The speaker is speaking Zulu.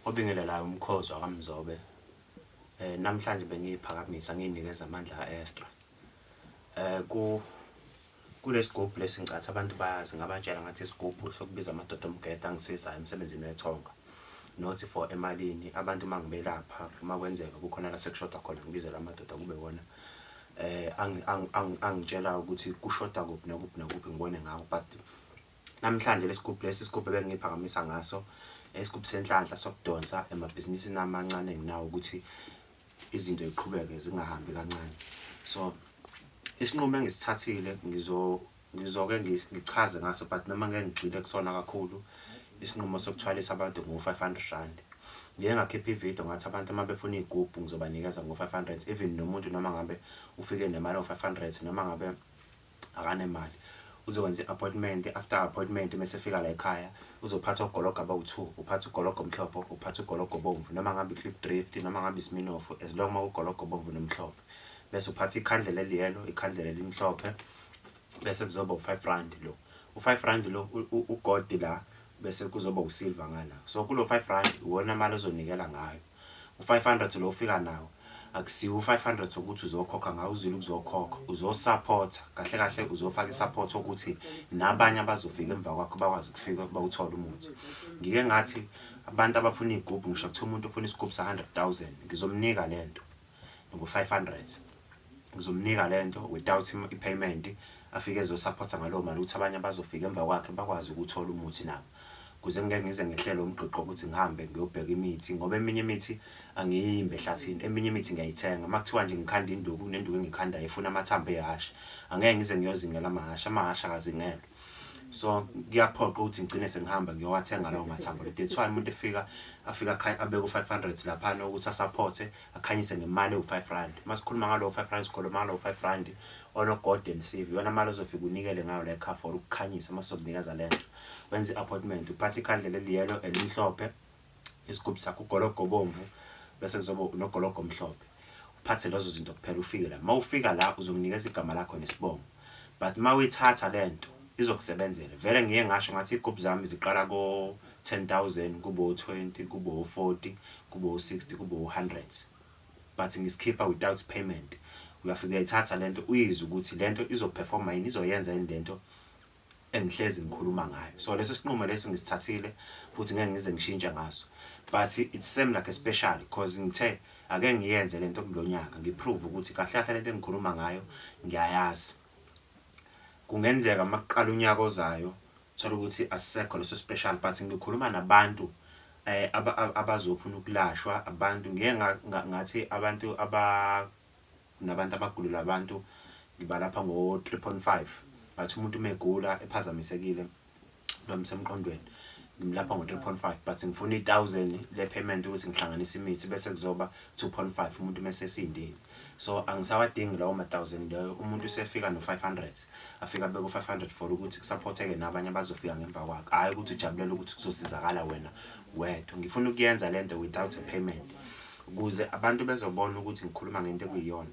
obingelelayo umkhozo wakamzobe eh namhlanje bengiyiphakamisa ngiyinikeza amandla ka-extra eh ku kulesigubhu lesincathi abantu bayazi ngabatshela ngathi isigubhu sokubiza amadoda omgeda angisizayo emsebenzini wethonga not for emalini abantu uma ngibelapha uma kwenzeka kukhona la sekushoda khona ngibizela amadoda kube wona eh angitshela ukuthi kushoda kuphi nokuphi nokuphi ngibone ngawo but Namhlanje lesigubhu lesi isigubhu ebengiphakamisa ngaso isigubhu senhlanhla sokudonsa emabhizinisini amancane enginawo ukuthi izinto ziqhubeke zingahambi kancane so isinqumo engisithathile ngizo ngizoke ngichaze ngaso but noma ngeke ngigxile kusona kakhulu isinqumo sokuthwalisa abantu ngo-500 rand ngike ngakhipha ividiyo ngathi abantu uma befuna iy'gubhu ngizobanikeza ngo-500 even nomuntu noma ngabe ufike nemali ngo-500 noma ngabe akanemali uzokwenza i-appointment after appointment mese fika la ekhaya uzophatha ugologo abawu-two uphatha ugologo omhlophe uphatha ugologo obomvu noma ngabe i-clip drift noma ngabe isiminofu as long uma ugologo obomvu nomhlophe bese uphatha ikhandlela eliyelo ikhandlela elimhlophe bese kuzoba u-five rand lo u-five rand lo ugodi la bese kuzoba usilva ngala so kulo-five rand iwona mali ozonikela ngayo U 500 lo ofika nawo akusiwo u 500 wokuthi uzokhokha ngawo uzile ukuzokhokha uzo support kahle kahle uzofaka i support ukuthi nabanye abazofika emva kwakho bakwazi ukufika kuba uthole umuthi ngike ngathi abantu abafuna igubhu ngisho kuthiwa umuntu ufuna isigubhu sa 100000 ngizomnika lento ngo 500 ngizomnika lento without him ipayment afike ezosupporta ngalowo mali ukuthi abanye abazofika emva kwakhe bakwazi ukuthola umuthi nabo kuze ngeke ngize ngehlele umgqigqo ukuthi ngihambe ngiyobheka imithi ngoba eminye imithi angiyimbe ehlathini eminye imithi ngiyayithenga uma kuthiwa nje ngikhanda induku kunenduku engikhandayo efuna amathambo ehhashi angeke ngize ngiyozingela amahhashi amahhashi akazingelwa so kuyaphoqa ukuthi ngigcine sengihamba ngiyowathenga lawo mathambo that's why umuntu efika afika abeke u-500 laphana ukuthi asaphothe akhanyise ngemali ewu-5 rand uma sikhuluma ngalowo 5 rand sikhuluma ngalowo 5 rand onogolden sieve iyona mali ozofika unikele ngayo la ekhafor ukukhanyisa uma sokunikeza le nto wenza i-appointment uphatha ikhandlela eliyelo elimhlophe isigubhu sakho ugologo obomvu bese kuzoba unogologo omhlophe uphathe lezo zinto kuphela ufike la uma ufika la uzonginikeza igama lakho nesibongo but uma uyithatha le nto izokusebenzela vele ngiye ngasho ngathi iy'gubhu zami ziqala ko-ten thousand kube o-twenty kube o-forty kube o-sixty kube o-hundred but ngisikhipha without payment uyafika uyayithatha le nto uyizwe ukuthi le nto izoperforma yini izoyenza yini le nto engihlezi ngikhuluma ngayo so lesi sinqumo lesi ngisithathile futhi ngeke ngize ngishintshe ngaso but it seem like a special because ngithe ake ngiyenze lento kulonyaka ngiprove ukuthi kahle kahle lento engikhuluma ngayo ngiyayazi kungenzeka makuqala unyaka ozayo thola ukuthi asisekho leso special but ngikhuluma nabantu eh abazofuna ukulashwa abantu ngeke ngathi abantu aba Kunabantu abagulula abantu ngibalapha ngo 3.5 but umuntu uma egula ephazamisekile noma semqondweni ngimlapha ngo 3.5 but ngifuna i 1000 le payment ukuthi ngihlanganise imithi bese kuzoba 2.5 umuntu mase esindile so angisawadingi lawo ma 1000 leyo umuntu usefika no 500 afika beko 500 for ukuthi kusupporteke nabanye abazofika ngemva kwakhe hayi ukuthi ujabulela ukuthi kuzosizakala wena wedwa ngifuna ukuyenza lento without a payment ukuze abantu bezobona ukuthi ngikhuluma ngento ekuyiyona.